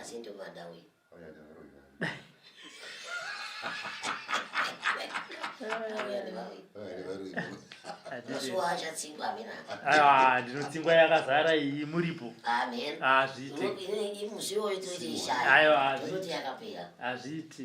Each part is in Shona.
asi ndomada uyu ah, ndinotsingwa yakazara iyi muripo hazviitihazviiti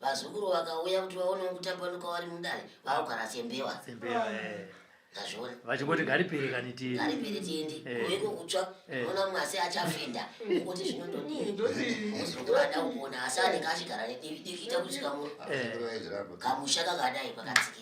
Vazukuru vakauya kuti vaone kutambanuka wari mudare vaogara sembewa. Sembewa. Eh. Ndazviona. Vachingoti garipere kani tindi. Garipere tindi. Eh. Kuiko kutsva. Eh. Ona mwasi achafenda. Kuti zvinondodii. Ndozvinoda kuona asani kashigara nediki diki ita kuchika mu. Kamusha kakadai pakatsikira.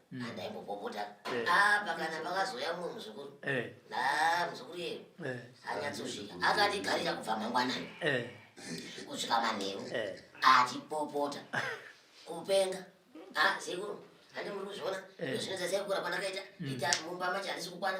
ndaimbopopota eh. ah, pakana pakazouya mumwe muzukuru eh. ah, muzukuru yeyo eh. anyatsosvika akatigarira kubva mangwanani kusvika manheru achipopota kupenga ah, sekuru handi muri kuzviona zvinozasekura kwanakaita mm. ita mumba macho handisi kukwana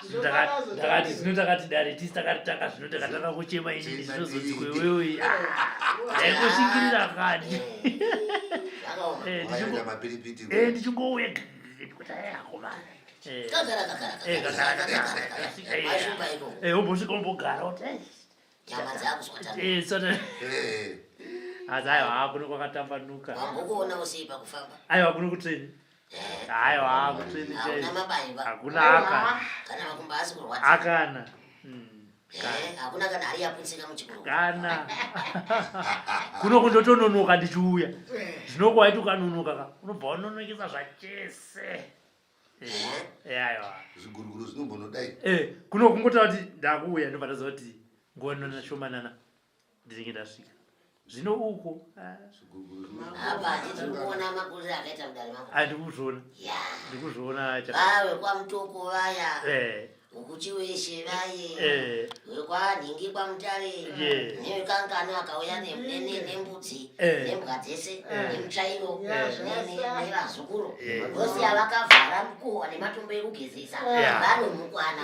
takati zvino takati dare tisi takati taka zvino takatanga kuchema inini zvinozoti kwewewe daingosvikirira kani ndichingouya kuti ayakomana umbosvika umbogara kuti nyama dzakuzotaasaiwa hakuno kwakatambanuka aiwa kuno kuteni aiwa kutreni chai hakuna akana kana makumba asi kurwadza akana hakuna kana hari yaputsika muchikuru kana kuno kundotononoka ndichiuya zvinoko waiti ukanonoka ka unobva wanonokisa zvachese aiwa zviguruguru zvinombonodai kuno kungotaura kuti ndakuuya ndobva ndaziva kuti nguva nonashomanana ndinenge ndasvika zvino uko andikuzviona ndikuzviona vawe kwamutoko vaya eh. ukuchi weshe vaye eh. wekwanhingi kwamutare nevekangano akauya nembudzi eh. nembwa dzese nemutsvairo nevazukuru vose avakavhara mukuhwa nematombo ekugezesa vanomukwana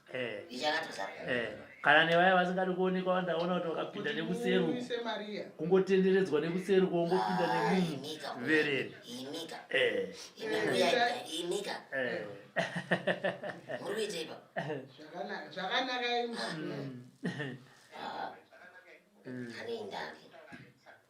Eh. Eh. kana nevaya vasingadi kuonekwa vandaona kuti vakapinda nekuseru kungotenderedzwa nekuseru kwongopinda nemunhu vereri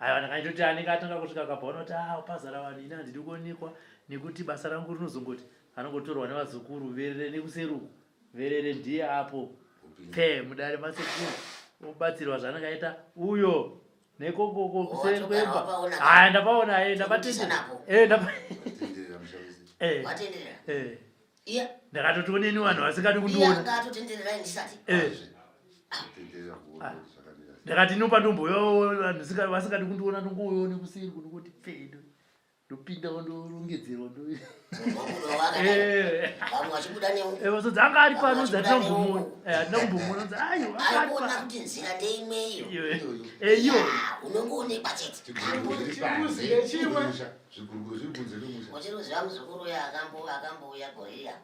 Aiwa ndakaitoti anenge atanga kusvika akabva unoti ah pazara vanhu ini handidi kuonekwa nekuti basa rangu rinozongoti anongotorwa nevazukuru verere nekuseruku verere ndiye apo pfee mudare masekuru obatsirwa zvanenge aita uyo nekokoko kuseri kwemba haya ndapaona e ndabatendera e ndapatenderera yeah. ndakatoti oneni vanhu vasingadi kundiwonandakatoti eh. ah. ah. inopa ndomboyo vanhu vasingadi kundiona ndongoyo nekusiri kunongoti pfedo ndopinda wandorongedzerwa ndovazodzi anga ari pano dzi hatina kumbomona hatina kumbomona dzi aiwaona kuti nzira ndeimweyo eyo unongoonekwa chete Zviguruguru zviri kunze kwemusha. Muchiri kuziva muzukuru uya akambo akambouya goriya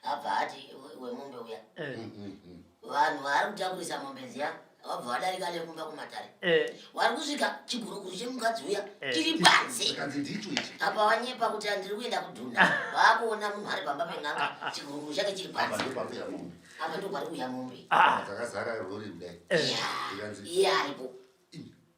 abva ati we- wemombe uya. Eh, Mm, mm, mm. Vanhu vari kutakurisa mombe dziya vabva vadarika nekumba kumatare. eh, Wari kusvika chiguruguru chemukadzi uya Eh. chiri panze. Zvikanzi ndicho ichi. Apa wanyepa kuti andiri kuenda kudhuna. Vakuona munhu ari pamba pen'anga chiguruguru chake chiri Apa panze. ndipo pakuya mombe. Apa ndipo pari kuuya mombe. ah, Dzakazara rori kudai. eh, Yeah. Zvikanzi Iye aripo. "Ih,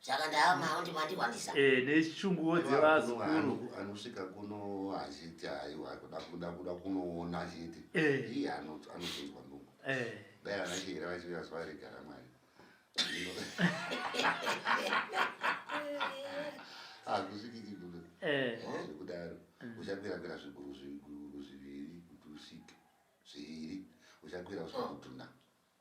saka ndaama undi mandikwanisa eh nechunguwo dzevazukuru anosvika kuno achiti aiwa kuda kuda kuda kunoona achiti eh iye anozonzwa ndungu eh dai anachira vachira zuva regara mwari hakusviki chigulo eh. eh, zvekudaro mm. uchakwira kwira zviguru zviguru zviviri kuti usvike zviviri uchakwira usvika kudhuna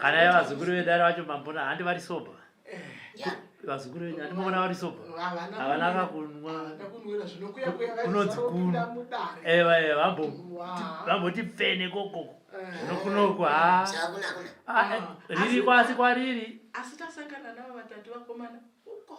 kana ya vazukuru vedare vacho mambona handi vari soba vazukuru venyu andimona vari soba havana kakunwa kunonzi kunu ewa ewa vamboti pfene kokoko zvinokunoku ha riri kwasi kwariri asi tasangana navo vatatu vakomana uko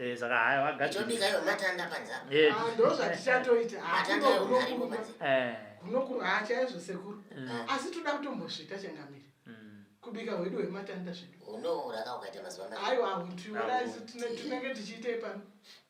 Eh, saka haya vagaitobika ivo matanda panzapa eh, ah, ndo zvatichatoita matanda ewo arimo panzapa eh. kunokurwa chaizvo sekuru mm. ah, asi toda kutombozvita changamire mm. kubika hwedu hwematanda zvedu unouraka ukaita mazuva aiwa hutiuraizi tinenge tichiitei pano